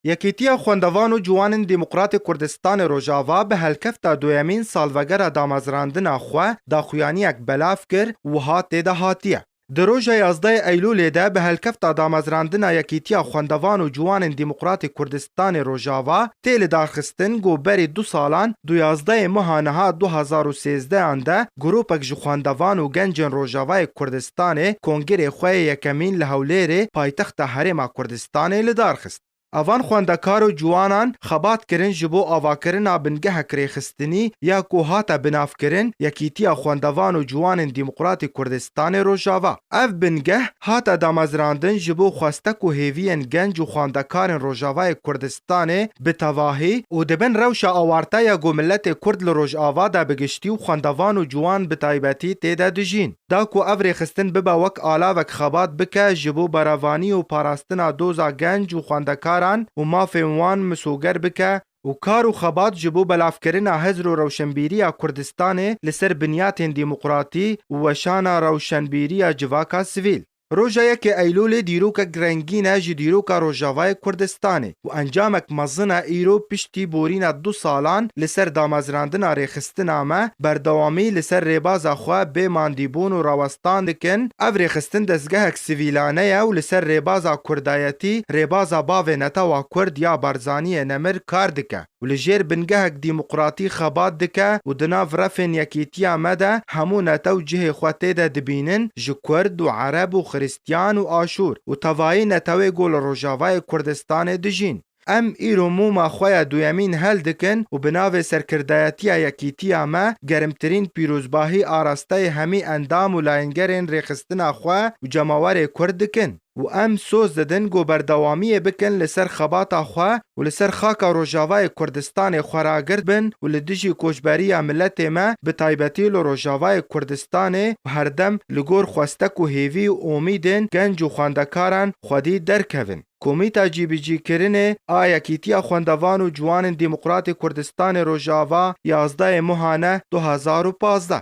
Yekîtiya Xwendevan û Ciwan ên Demokratê Kurdistanê Rojava bi helkefta duyemîn salvegera damezrandina xwe daxuyaniyek belav kir, wiha tê de hatiye. Di roja yazdeyê Eylûlê de bi helkefta damezrandina Yekîtiya Xwendevan û Ciwan ên Demokratê Kurdistanê Rojava tê lidarxistin ku berî du salan du yazdeyê meha niha du hezar û sêzdeh an de grûpek ji xwendevan û gencên Rojavayê Kurdistanê kongirê xwe yê yekemîn li Hewlêrê paytexta Herêma Kurdistanê stanê li dar xist. A van xwendekar û ciwanan xebat kirin ji bo avakirina bingehek rêxistinî ya ku hate binavkirin Yekîtiya Xwendevan û Ciwanên Dîmoqratî Kurdistanê Rojava. Ev bingeh hate damezrandin ji bo xweste ku hêviyên genc û xwendekarên Rojavayê Kurdistanê bi tevahî û di bin rewşa awarte ya ku miletê Kurd li Rojava de bi giştî û xwendevan û ciwan bi taybetî tê de dijîn, Da ku ev rêxistin bibe wek alavek xebat bike ji bo berevanî û parastina doza genc û xwendekaran û mafên wan misoger bike û kar û xebat ji bo belavkirina hizr û rewşenbîriya Kurdistanê li ser binyatên demokratî û weşana rewşenbîriya civaka sivîl. Roja yekê Eylûlê dîrokek rengîn e ji dîroka Rojavayê Kurdistanê û encamek mezin e îro piştî borîna du salan li ser damezrandina rêxistina me berdewamî li ser rêbaza xwe bê mandîbûn û rawestan dikin ev rêxistin dezgehek sivîlane ye û li ser rêbaza kurdayetî rêbaza bavê netewa kurd ya Barzaniyê Nemir kar dike. û li jêr bingehek dîmoqratî xebat dike û di nav refên yekîtiya me de hemû netew cihê xwe tê de dibînin, ji kurd û ereb û xirîstyan û aşûr û tevayî netewê ku li Rojavayê Kurdistanê dijîn. Em îro mûma xwe ya duyemîn hel dikin û bi navê serkirdayetiya yekîtiya me gerimtirîn pîrozbahî arasteyê hemî endam û layengerên rêxistina xwe û cemawerê kurd dikin. û em soz didin ku berdewamiyê bikin li ser xebata xwe û li ser xaka Rojavayê Kurdistanê xwe ragird bin û li dijî koçberiya miletê me bi taybetî li Rojavayê Kurdistanê û herdem li gor xwestek û hêvî û omîdên genc û xwendekaran xwedî derkevin. Komîta Cîbicîkirinê a Yekîtiya Xwendevan û Ciwanên Demokratê Kurdistanê Rojava, yazdeyê Muhane du hezar û pazdeh.